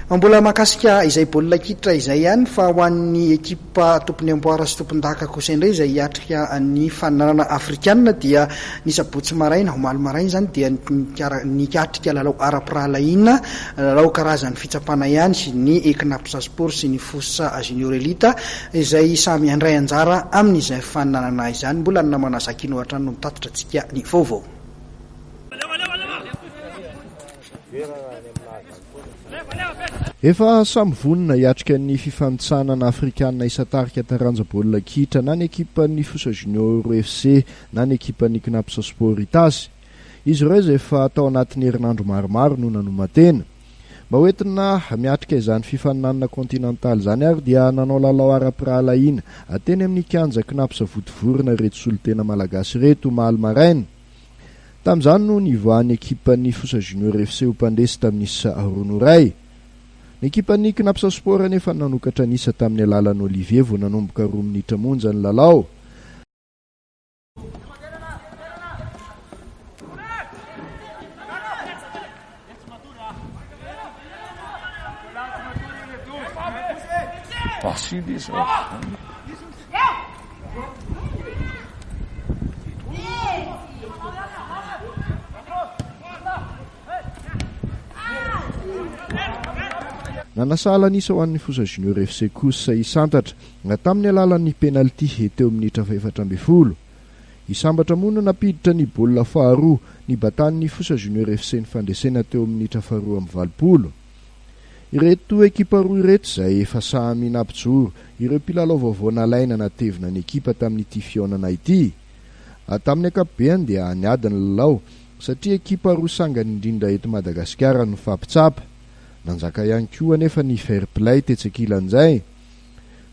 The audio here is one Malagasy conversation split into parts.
Mbola mahakasika izay baolina kitra izay ihany fa ho an'ny ekipa tompon'ny amboara sy tompondaka kosa indray izay hiatrika ny fananana afrikanina dia ny sabotsy maraina, omaly maraina izany dia ny hiatrika lalao ara-pirahalahiana, lalao karazan'ny fitsapana ihany ny Cnaps Sport sy ny Fosa Junior Elite izay samy handray anjara amin'izay fananana izany. Mbola ny namana Zakino hatrany no mitatitra antsika ny vaovao. Efa samy vonona hiatrika ny fifanintsanana afrikanina isan-tarika taranja baolina kitra na ny ekipan'ny Fosa Junior FC na ny ekipan'ny Cnaps Sport Itasy. Izy ireo izay efa tao anatin'ny herinandro maromaro no nanoman-tena. Mba ho entina miatrika izany fifaninanana kontinantaly izany ary dia nanao lalao ara-pirahalahiana teny amin'ny kianja Cnaps Votovorona ireto solontena malagasy ireto omaly maraina. Tamin'izany no nivoahan'ny ekipan'ny Fosa Junior FC ho mpandresy tamin'ny isa roa no iray. Ny ekipan'ny Cnaps Sport anefa nanokatra ny isa tamin'ny alalan'i Olivier vao nanomboka roa minitra monja ny lalao. Basile izy Nanasa alan'isa ho an'ny Fosa Junior FC kosa i Santatra, tamin'ny alalan'ny penalty teo amin'ny minitra fahefatra ambin'ny folo. I Sambatra moa no nampiditra ny baolina faharoa, nibatan'ny Fosa Junior FC ny fandresena teo amin'ny minitra faharoa amby valopolo. Ireto ekipa roa ireto izay efa samy nampijoro ireo mpilalao vaovao nalaina natevina ny ekipa tamin'ity fihaonana ity. Tamin'ny ankapobeny dia niady ny lalao satria ekipa roa sangany indrindra eto Madagasikara no nifampitsapa. Nanjaka ihany koa anefa ny fair play tetsy ankilan'izay.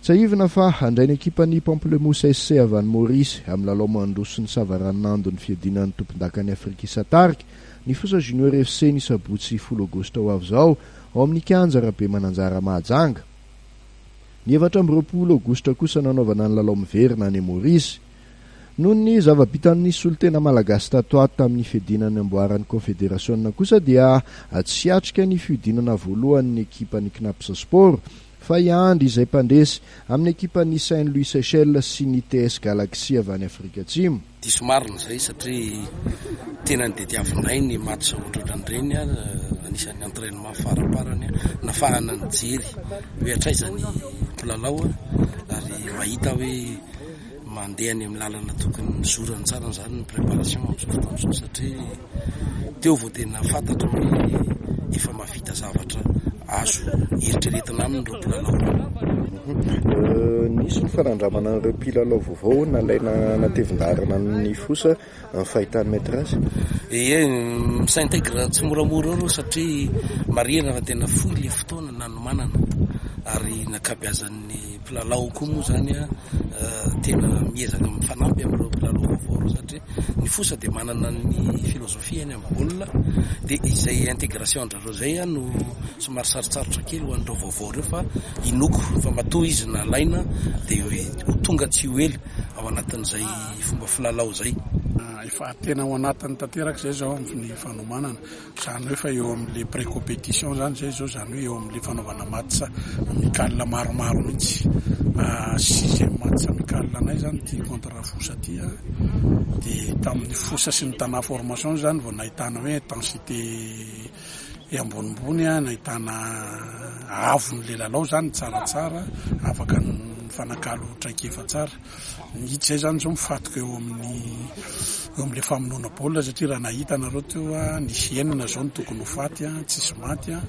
Tsiahivina fa handray ny ekipan'ny Pamplemousse SC avy any Maorisy amin'ny lalao mandroso ny savaranonando ny fiadiana ny tompondakan'i Afrika Isan-tarika ny Fosa Junior FC ny sabotsy folo aogositra ho avy izao ao amin'ny kianja Rabemananjara Mahajanga. Ny efatra amby roapolo aogositra kosa nanaovana ny lalao miverina any Maorisy. Noho ny zava-bitan'ny solontena malagasy tato ato tamin'ny fiadiana ny amboaran'ny Kaonfederasiona kosa dia tsy hiatrika ny fihodinana voalohany ny ekipan'ny Cnaps Sport Fa i Andry izay mpandresy, amin'ny ekipan'ny Saint Louis Seychelles sy ny TS Galaxy avy any Afrika Atsimo. Diso marina izay satria tenany dia diavinay ny match ohatrohatran'ireny, anisan'ny entrainement faraparany nafahana nijery hoe hatraiza ny mpilalao ary mahita hoe. Mandeha any amin'ny lalana tokony nizorany tsara izany ny préparation amin'izao fotoana izao satria teo vao tena fantatro hoe efa mahavita zavatra azo eritreretina aminy ireo mpilalao. Nisy ny fanandramana an'ireo mpilalao vaovao nalaina natevin-daharana ny fosa. ny fahitany metres. Ie, mi-s'intègre tsimoramora eo aloha satria marihina fa tena fohy le fotoana nanomanana ary ny ankabeazan'ny mpilalao koa moa zany an tena miezaka mifanampy amin'ireo mpilalao vaovao ireo satria ny fosa dia manana ny filozofiany amin'ny baolina dia izay intégration-dRareo izay an no somary sarotsarotra kely ho an'ireo vaovao ireo fa inoako fa matoa izy nalaina dia ho tonga tsy ho ela ao anatin'izay fomba filalao izay. Efa tena ao anatiny tanteraka izay izao ny fanomanana, izany hoe efa eo amin'ilay pré-compétition izany izay izao, izany hoe eo amin'ilay fanaovana match amical maromaro mihitsy. Sixième match amical anay izany ity contre Fosa ity an, dia tamin'ny Fosa sy ny Tana Formation izany vao nahitana hoe intensité. dia ambonimbony an, nahitana avon'ilay lalao izany tsaratsara, afaka nifanakalo traikefa tsara. Ny hita izay izany izao mifantoka eo amin'ny eo amin'ilay famonoana baolina satria raha nahita ianareo teo an, nisy enina izao no tokony ho faty an, tsisy maty an.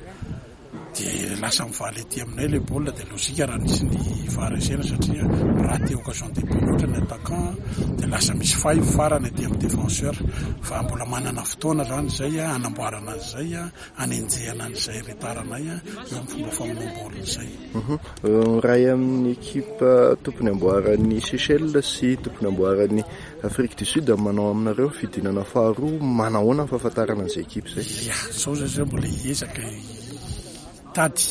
dia lasa mivaly aty aminay ilay baolina dia lojika raha nisy ny var essai-na satria raty occasion de but loatra ny attaquant dia lasa misy faille farany aty amin'ny défenseur fa mbola manana fotoana izany izay hanamboarana an'izay hanenjehana an'izay retard anay eo amin'ny fomba famonoana baolina izay mhm. miray amin'ny ekipa tompony amboaran'ny Seychelles sy tompony amboaran'ny Afrique du Sud manao aminareo fidinana faharoa manahoana ny fahafantarana an'izay ekipa izay ia sao zay zay mbola hiezaka Tady,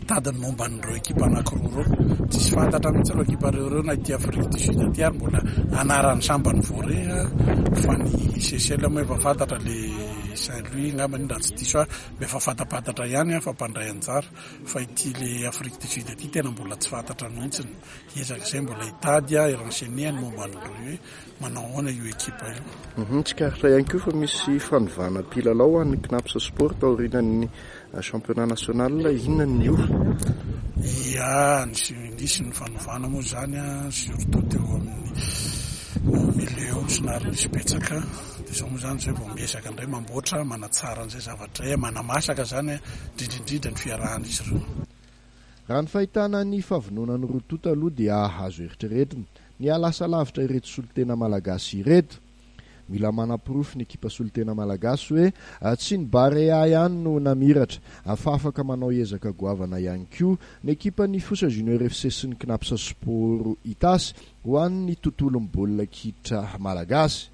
tady ny momba an'ireo ekipa anankiroa ireo. Tsisy fantatra mihitsy ireo ekipa ireo ireo na ity Afrique du Sud ity ary mbola anaran'ny sambany vao re fa ny Seychelles moa efa fantatra le Saint Louis angamba iny raha tsy diso ahy mba efa fantapantatra ihany fa mpandray anjara fa ity le Afrique du Sud ity tena mbola tsy fantatra mihitsy. Ezaka izay mbola hitady aho, hi-renseigner ny momba an'ireo. Manao ahoana io ekipa io? Uhum, tsikaritra ihany koa fa misy fanovana mpilalao ho an'ny Cnaps Sport taorianan'ny championnat national, inona ny niova? Ia, nisy nisy ny fanovana moa izany a, surtout teo amin'ny au milieu ao somary nisy betsaka, dia izao moa izany izay vao miezaka indray mamboatra, manatsara an'izay zavatra izay, manamasaka izany indrindra indrindra ny fiarahan'izy ireo. Raha ny fahitana ny fahavononan'ny roa tonta aloha dia azo eritreretina. Nihalasa lavitra ireto solontena malagasy ireto. Mila manaporofo ny ekipa solontena malagasy hoe tsy ny Barea ihany no namiratra, fa afaka manao ezaka goavana ihany koa ny ekipan'ny Fosa Junior FC sy ny Cnaps Sport Itasy ho an'ny tontolon'ny baolina kitra malagasy.